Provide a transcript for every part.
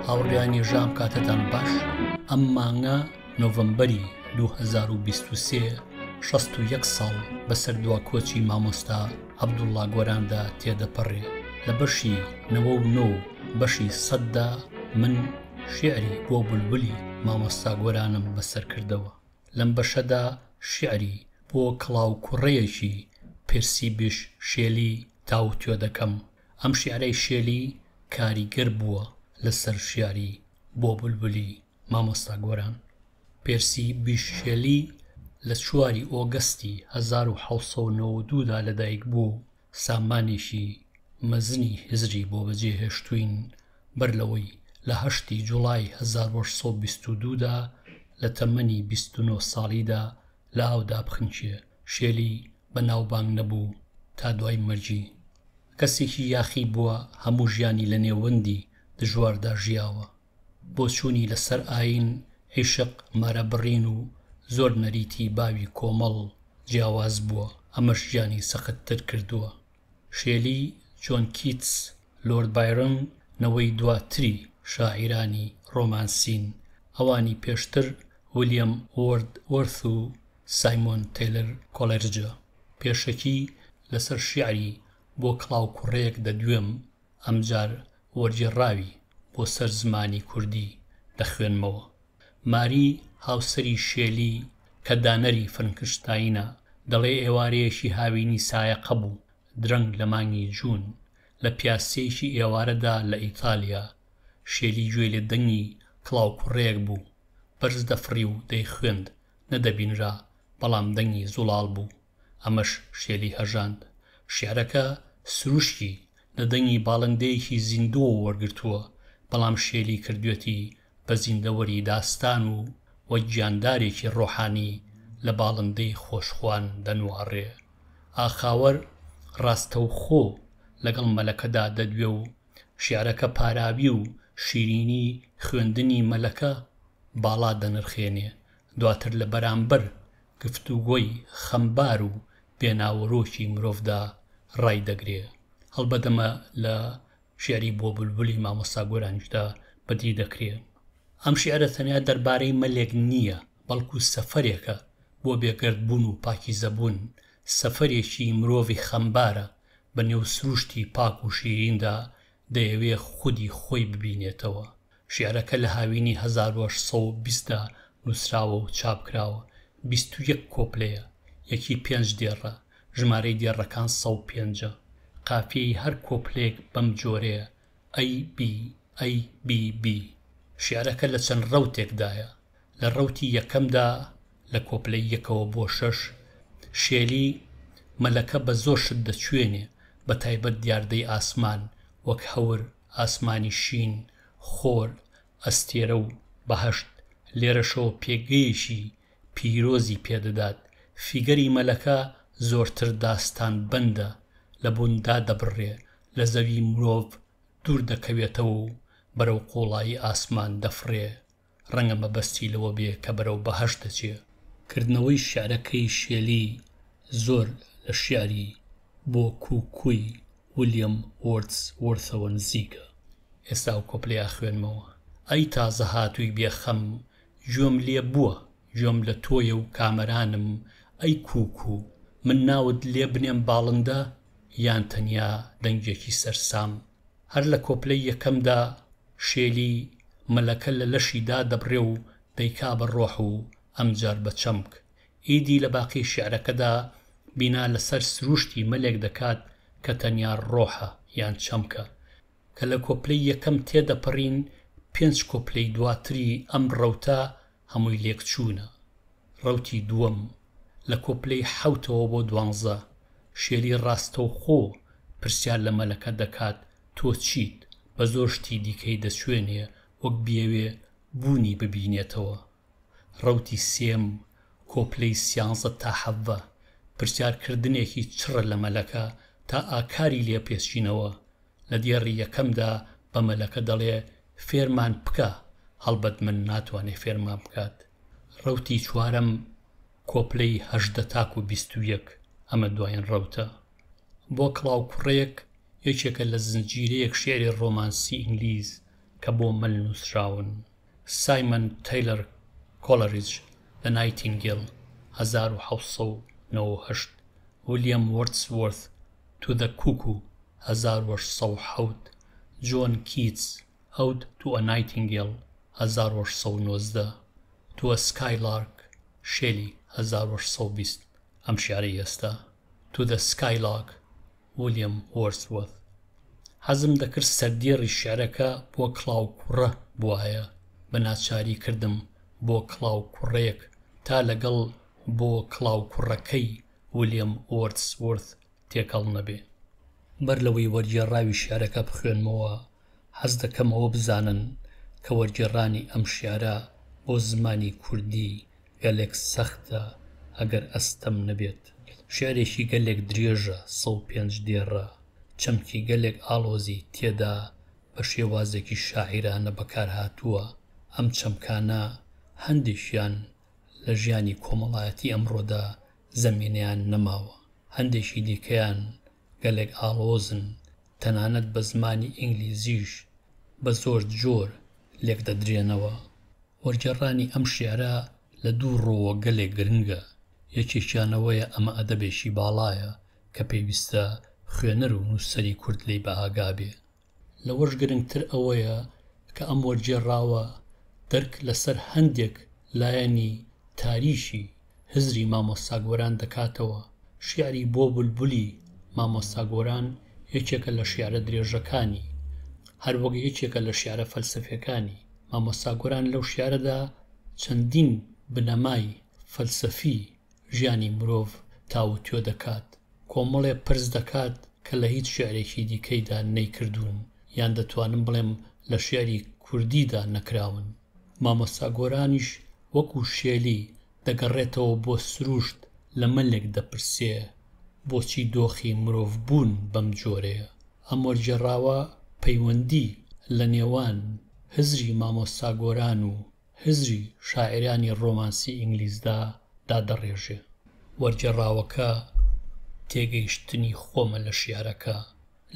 هاوڕێیانی ژام کاتتان باش ئەم مانگە نۆڤمبەری 2023 یەک ساڵ بەسەر دوا کۆچی مامۆستا عەبدوڵا گۆراندا تێدەپەڕێ لە بەشی نەوە و نۆ بەشی سەددا من شعری بۆ بولبولی مامۆستا گۆرانم بەسەر کردەوە لەم بەشەدا شیعری بۆ کڵاوکوڕەیەکی پێرسی بیش شێلی تاوتوێ دەکەم. ئەم شیعرەی شێلی کاریگەر بووە لەسەر شیعری بۆ بولبولی مامۆستا گۆران. پێرسی بیش شێلی لە چواری ئۆگەستی هەزار و حەوت سەد و نەوەد و دوو دا لەدایک بووە و سامانێکی مەزنی هزری بۆ بەجێهێشتووین بەر لەوەی لە هەشتی جوڵای هەزار و هەشت سەد و بیست و دوو دا لە تەمەنی بیست و نۆ ساڵیدا لە ئاودا بخنکێ. شێلی بەناوبانگ نەبوو تا دوای مەرگی. کەسێکی یاخی بووە، هەموو ژیانی لە نێوەندی دژواردا ژیاوە. بۆچوونی لە سەر ئایین، عیشق، مارە بڕین و زۆر نەریتی باوی کۆمەڵ جیاواز بووە، ئەمەش ژیانی سەخت تر کردووە. شێلی، جۆن کیتس، لۆرد بایرۆن نەوەی دواتری شاعیرانی ڕۆمانسین، ئەوانی پێشتر ولیەم وۆرد وۆرث و سایمۆن تەیلر کۆڵێرجە. پێشەکی لە سەر شیعری بۆ کڵاوکوڕێک دەدوێم، ئەمجار وەرگێڕاوی بۆ سەر زمانی کوردی دەخوێنمەوە. ماری هاوسەری شێلی کە دانەری فرنکشتاینە، دەڵێ ئێوارەیەکی هاوینی سایەقە بوو، درەنگ لە مانگی جوون، لە پیاسەیەکی ئێوارەدا لە ئیتالیا، شێلی گوێی لە دەنگی کڵاوکوڕێک بوو، بەرز دەفڕی و دەیخوێند، نەدەبینرا، بەڵام دەنگی زوڵاڵ بوو. ئەمەش شێلی هەژاند. شیعرەکە سروشتی لە دەنگی باڵندەیەکی زیندووەوە وەرگرتووە، بەڵام شێلی کردوویەتی بە زیندەوەری داستان و وەک گیاندارێکی ڕۆحانی لە باڵندەی خۆشخوان دەنواڕێ. ئاخاوەر ڕاستەوخۆ لەگەڵ مەلەکەدا دەدوێ و شیعرەکە پاراوی و شیرینی خوێندنی مەلەکە باڵا دەنرخێنێ، دواتر لە بەرامبەر گفتوگۆی خەمبار و بێ ناوەرۆکی مرۆڤدا ڕای دەگرێ. هەڵبەت ئەمە لە شیعری بۆ بولبولی مامۆستا گۆرانیشدا بەدی دەکرێ. ئەم شیعرە تەنیا دەربارەی مەلێک نییە، بەڵکو سەفەرێکە بۆ بێگەردبوون و پاکیزەبوون، سەفەرێکی مرۆڤی خەمبارە بە نێو سروشتی پاک و شیریندا دەیەوێ خودی خۆی ببینێتەوە، شیعرەکە لە هاوینی هەزار و هەشت سەد و بیست دا نووسراوە و چاپ کراوە، بیست و یەک کۆپلەیە، یەکی پێنج دێڕە، ژمارەی دێڕەکان سەد و پێنج ە، قافیەی هەر کۆپلەیەک بەم جۆرەیە، ئەی بی، ئەی بی بی. شیعرەکە لە چەند ڕەوتێک دایە، لە ڕەوتی یەکەم دا لە کۆپلەی یەکەوە بۆ شەش، شێلی، مەلەکە بە زۆر شت دەچووێنێ، بە تایبەت دیاردەی ئاسمان، وەک هەور، ئاسمانی شین، خۆر، ئەستێرە و بەهەشت، لێرەشەوە پێگەیەکی پیرۆزی پێدەدات، فیگەری مەلەکە زۆرتر داستانبەندە، لە بوون دادەبڕێ، لە زەوی مرۆڤ دوور دەکەوێتەوە و بەرەو قوڵایی ئاسمان دەفڕێ، ڕەنگە مەبەستی لەوە بێ کە بەرەو بەهەشت دەچێ. کردنەوەی شیعرەکەی شێلی زۆر لە شیعری بۆ کو کوی ولیەم وۆردس وۆرثەوە نزیکە. ئێستا ئەو کۆپلەی ئاخوێنمەوە. ئەی تازە هاتووی بێ خەم گوێم لێ بووە گوێم لە تۆیە و کامەرانم ئەی کووکو من ناوت لێ بنێم باڵندە یان تەنیا دەنگێکی سەرسام هەر لە کۆپلەی یەکەمدا شێلی مەلەکە لە لەشی دادەبڕێ و دەیکا بە ڕۆح و ئەمجار بە چەمک ئیدی لە باقی شیعرەکەدا بینا لەسەر سروشتی مەلێک دەکات کە تەنیا ڕۆحە یان چەمکە کە لە کۆپلەی یەکەم تێدەپەڕین پێنج کۆپلەی دواتری ئەم ڕەوتە هەمووی لێکچوونە. ڕەوتی دووەم، لە کۆپلەی حەوتەوە بۆ دوانزە، شێری ڕاستەوخۆ پرسیار لە مەلەکە دەکات تۆ چیت، بە زۆر شتی دیکەی دەچوێنێ وەک بیەوێ بوونی ببینێتەوە. ڕەوتی سێم، کۆپلەی سیانزە تا حەڤە، پرسیارکردنێکی چڕە لە مەلەکە تا ئاکاری لێپێچینەوە لە دێڕی یەکەمدا بە مەلەکە دەڵێ فێرمان بکە، هەڵبەت من ناتوانێ فێرمان بکات. ڕەوتی چوارەم، کۆپلەی هەژدە تاکوو بیست و یەک، ئەمە دوایین ڕەوتە. بۆ کڵاو کوڕێک، یەکێکە لە زنجیرەیەک شیعری ڕۆمانسی ئینگلیز کە بۆ مەل نووسراون. سایمەن تەیلەر کۆڵریج، The Nightingale، هەزار و حەوت سەد و نەوە و هەشت، ولیەم وۆردسوۆرث، تو دە کوکو هەزار و هەشت سەد و حەوت، جۆن کیتس، ئەوت تو ئە نایتینگێڵ هەزار و هەشت سەد و نۆزدە، تو ئە سکای لارک، شێلی هەزار و هەشت سەد و بیست ئەم شیعرەی ئێستا، تو دە سکای لاک، ولیەم وۆرسوەرث. حەزم دەکرد سەردێڕی شیعرەکە بۆ کڵاوکوڕە بوایە، بە ناچاری کردم بۆ کڵاوکوڕەیەک تا لەگەڵ بۆ کڵاوکوڕەکەی ویلیەم وۆردسوۆرث تێکەڵ نەبێ. بەر لەوەی وەرگێڕاوی شیعرەکە بخوێنمەوە، حەز دەکەم ئەوە بزانن کە وەرگێڕانی ئەم شیعرە بۆ زمانی کوردی گەلێک سەختە، ئەگەر ئەستەم نەبێت. شیعرێکی گەلێک درێژە، سەد و پێنج دێڕە، چەمکی گەلێک ئاڵۆزی تێدا بە شێوازێکی شاعیرانە بەکارهاتووە، ئەم چەمکانە هەندێکیان لە ژیانی کۆمەڵایەتی ئەمڕۆدا زەمینەیان نەماوە، هەندێکی دیکەیان گەلێک ئاڵۆزن، تەنانەت بە زمانی ئینگلیزیش بە زۆر جۆر لێکدەدرێنەوە. وەرگێڕانی ئەم شیعرە لە دوو ڕووەوە گەلێک گرنگە، یەکێکیان ئەوەیە ئەمە ئەدەبێکی باڵایە کە پێویستە خوێنەر و نووسەری کورد لێی بەئاگا بێ، لەوەش گرنگتر ئەوەیە کە ئەم وەرگێڕاوە دەرک لەسەر هەندێک لایەنی تاریکی هزری مامۆستا گۆران دەکاتەوە، شیعری بۆ بولبولی مامۆستا گۆران یەکێکە لە شیعرە درێژەکانی، هەروەک یەکێکە لە شیعرە فەلسەفیەکانی، مامۆستا گۆران لەو شیعرەدا چەندین بنەمای فەلسەفی ژیانی مرۆڤ تاووتوێ دەکات، کۆمەڵێ پرس دەکات کە لە هیچ شیعرێکی دیکەیدا نەیکردوون یان دەتوانم بڵێم لە شیعری کوردیدا نەکراون. مامۆستا گۆرانیش وەکو شێلی دەگەڕێتەوە بۆ سرووشت لە مەلێک دەپرسێ بۆچی دۆخی مرۆڤ بوون بەم جۆرەیە؟ ئەم وەرگێڕاوە پەیوەندی لە نێوان هزری مامۆستا گۆران و هزری شاعیرانی ڕۆمانسی ئینگلیزدا دادەڕێژێ. وەرگێڕاوەکە تێگەیشتنی خۆمە لە شیعرەکە.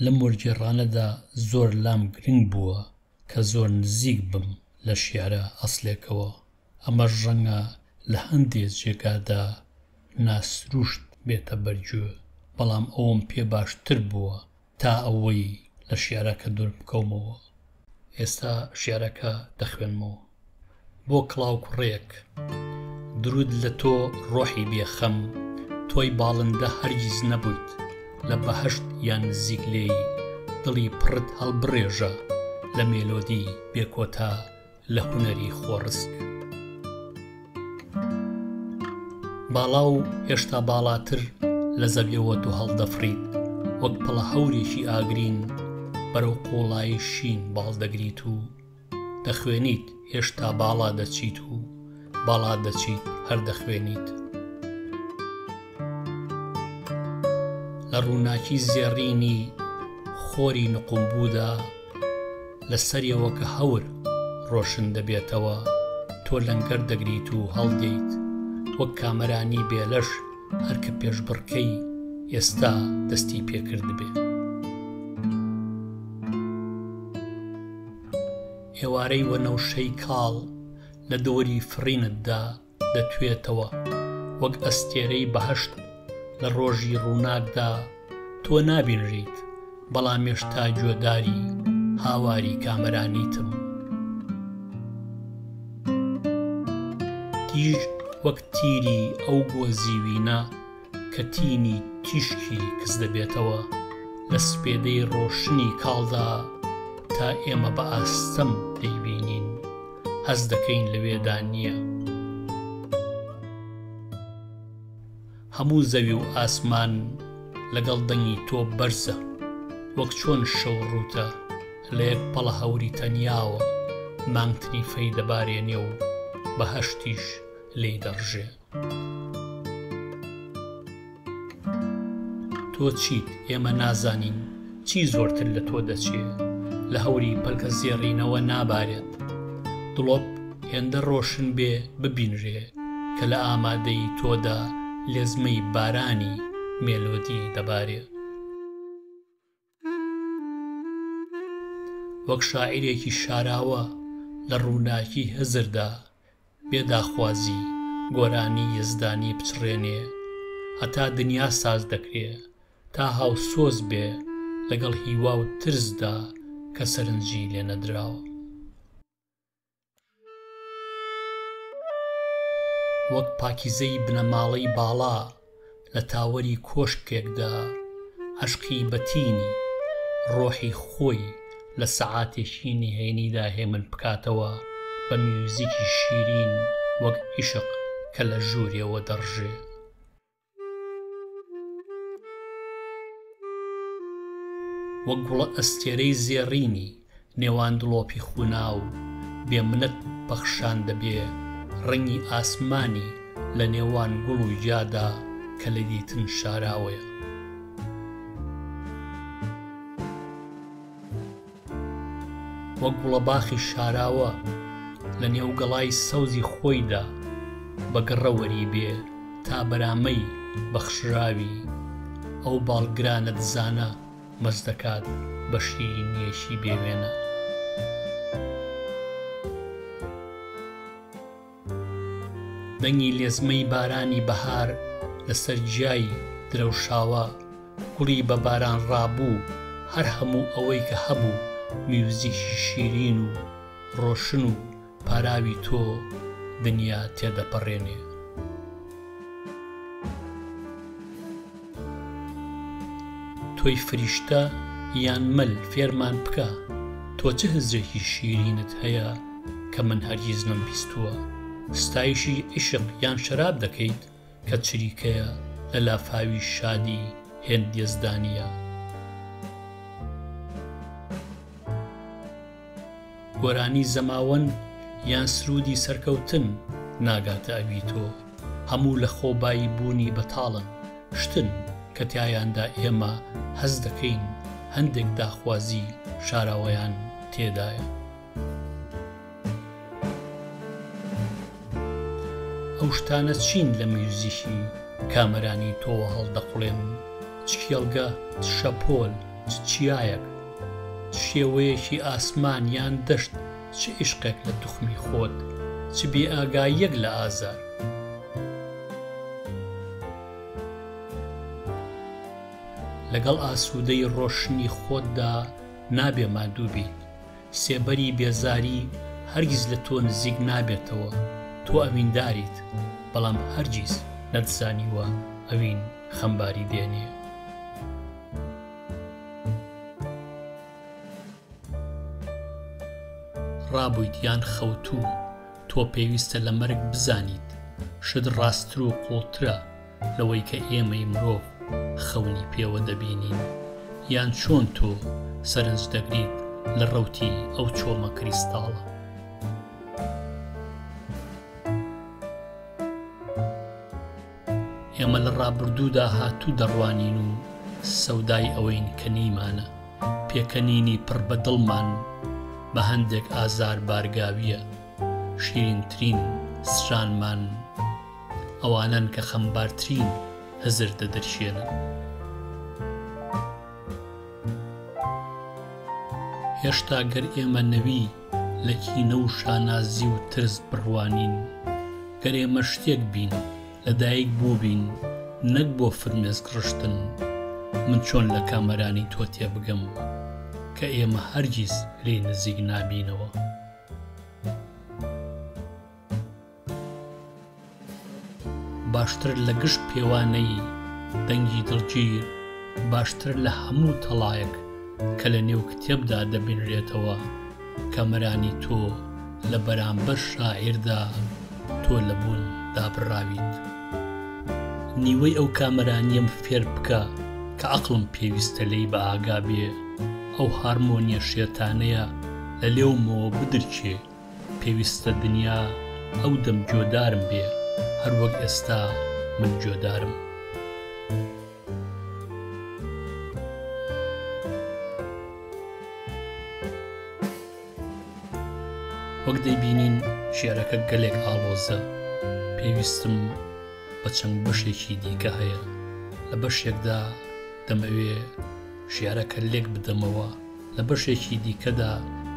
لەم وەرگێڕانەدا زۆر لام گرنگ بووە کە زۆر نزیک بم لە شیعرە ئەسڵێکەوە. ئەمەش ڕەنگە لە هەندێ جێگادا ناسرووشت بێتە بەرگوێ، بەڵام ئەوەم پێ باشتر بووە تا ئەوەی لە شیعرەکە دوور بکەومەوە، ئێستا شیعرەکە دەخوێنمەوە. بۆ کڵاو کوڕێک درود لە تۆ ڕۆحی بێ خەم تۆی باڵندە هەرگیز نەبوویت لە بەهەشت یان نزیک لێی دڵی پڕت هەڵبڕێژە لە مێلۆدی بێ کۆتا لە هونەری خۆڕسک باڵا و هێشتا باڵاتر لە زەویەوە تۆ هەڵدەفڕیت وەک پڵە هەورێکی ئاگرین بەرەو قوڵایی شین باڵ دەگریت و دەخوێنیت هێشتا باڵا دەچیت و باڵا دەچیت هەر دەخوێنیت لە ڕووناکی زێڕینی خۆری نقومبوودا لە سەریەوە کە هەور ڕۆشن دەبێتەوە تۆ لەنگەر دەگریت و هەڵدێیت وەک کامەرانی بێلەش هەر کە پێشبڕکێی ئێستا دەستی پێکردبێ. ئێوارەی وەنەوشەی کاڵ لە دۆری فڕینتدا، دەتوێتەوە وەک ئەستێرەی بەهەشت لە ڕۆژی ڕووناکدا تۆ نابینریت بەڵام ێشتا گوێداری هاواری کامەرانیتم تیژ وەک تیری ئەو گۆزیوینە کە تینی تیشکی کز دەبێتەوە لە سپێدەی ڕۆشنی کاڵدا تا ئێمە بە ئاستەم دەیبینین هەست دەکەین لەوێدا نییە هەموو زەوی و ئاسمان لەگەڵ دەنگی تۆ بەرزە وەک چۆن شەو ڕووتە لە یەک پەڵە هەوری تەنیاوە مانگتنی فەی دەبارێنێ و بەهەشتیش لێی دەڕژێ تۆ چیت ئێمە نازانین چی زۆرتر لە تۆ دەچێ لە هەوری پەلکە زێڕینەوە نابارێت دڵۆپ هێندە ڕۆشن بێ ببینرێ کە لە ئامادەیی تۆدا لێزمەی بارانی مێلۆدی دەبارێ. وەک شاعیرێکی شاراوە لە ڕووناکی هزردا بێ داخوازی گۆرانی یەزدانی بچڕێنێ هەتا دنیا ساز دەکرێ تا هاوسۆز بێ لەگەڵ هیوا و ترسدا کە سەرنجی لێ نەدراوە. وەک پاکیزەی بنەماڵەی باڵا لە تاوەری کۆشکێکدا عەشقی بە تینی ڕۆحی خۆی لە سەعاتێکی نهێنیدا هێمن بکاتەوە بە میوزیکی شیرین وەک عیشق کە لە ژوورێوە دەڕژێ. وەک گوڵە ئەستێرەی زێڕینی نێوان دڵۆپی خوناو بێ منەت پەخشان دەبێ ڕەنگی ئاسمانی لە نێوان گوڵ و گیادا کە لە دیتن شاراوەیە. وەک گوڵەباخی شاراوە لە نێو گەڵای سەوزی خۆیدا بە گڕە وەری بێ تا بەرامەی بەخشراوی ئەو باڵگرانە دزانە مەست دەکات بە شیرینییەکی بێ وێنە. دەنگی لێزمەی بارانی بەهار لەسەر گیای درەوشاوە، گوڵی بە باران ڕابوو، هەر هەموو ئەوەی کە هەبوو، میوزیکی شیرین و ڕۆشن و پاراوی تۆ دنیا تێدەپەڕێنێ. تۆی فریشتە یان مەل فێرمان بکە تۆ چ هزرێکی شیرینت هەیە کە من هەرگیز نەم بیستووە ستایشی عیشق یان شەراب دەکەیت کە چریکەیە لە لافاوی شادی هێند یەزدانیە. گۆرانی زەماوەند یان سروودی سەرکەوتن ناگاتە ئەوی تۆ، هەموو لە خۆبایی بوونی بەتاڵن، شتن کە تیایاندا ئێمە هەست دەکەین هەندێک داخوازی شاراوەیان تێدایە. ئەو شتانە چین لە میوزیکی کامەرانی تۆوە هەڵدەقوڵێنن، چ کێڵگە، چ شەپۆل، چ چیایەک، چ شێوەیەکی ئاسمان یان دەشت، چ ئیشقێک لە توخمی خۆت، چ بێئاگاییەک لە ئازار. لەگەڵ ئاسوودەیی ڕۆشنی خۆتدا نابێ ماندوو بیت. سێبەری بێزاری هەرگیز لە تۆ نزیک نابێتەوە، تۆ ئەوینداریت، بەڵام هەرگیز نەتزانیوە ئەوین خەمباری دێنێ. ڕابوویت یان خەوتوو، تۆ پێویستە لە مەرگ بزانیت شت ڕاستتر و قووڵترە، لەوەی کە ئێمەی مرۆڤ خەونی پێوە دەبینین یان چۆن تۆ سەرنج دەگریت لە ڕەوتی ئەو چۆمە کریستاڵە. ئێمە لە ڕابردوودا هاتوو دەڕوانین و سەودای ئەوەین کە نیمانە پێکەنینی پڕ بە دڵمان بە هەندێک ئازار بارگاویە شیرینترین سرانمان ئەوانەن کە خەمبارترین هزر دەدرکێنن. هێشتا گەر ئێمە نەوی لە کینە و شانازی و ترس بڕوانین، گەر ئێمە شتێک بین، لە دایک بووبین نەک بۆ فرمێسک ڕشتن، من چۆن لە کامەرانی تۆ تێبگەم کە ئێمە هەرگیز لێی نزیک نابینەوە؟ باشتر لە گشت پێوانەیی دەنگی دڵگیر، باشتر لە هەموو تەڵایەک کە لە نێو کتێبدا دەبینرێتەوە، کامەرانی تۆ لە بەرامبەر شاعیردا تۆ لە بوون دابڕاویت. نیوەی ئەو کامەرانیەم فێر بکە کە عەقڵم پێویستە لێی بەئاگا بێ، ئەو هارمۆنیە شێتانەیە لە لێومەوە بدرکێ، پێویستە دنیا ئەو دەم جۆدارم بێ هەر وەک ئێستا من جۆدارم. وەک دەیبینین شیعرەکە گەلێک ئاڵۆزە پێویستم بە چەند بەشێکی دیکە هەیە لە بەشێکدا دەمەوێ شیعرەکە لێک بدەمەوە، لە بەشێکی دیکەدا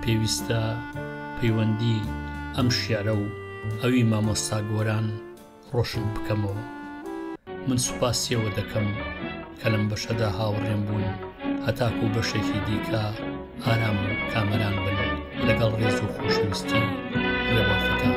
پێویستە پەیوەندی ئەم شیعرە و ئەوی مامۆستا گۆران ڕۆشن بکەمەوە. من سوپاسی ئەوە دەکەم کە لەم بەشەدا هاوڕێم بوون هەتاکوو بەشێکی دیکە ئارام و کامەران بن لەگەڵ ڕێز و خۆشەویستی لە وەفەکان.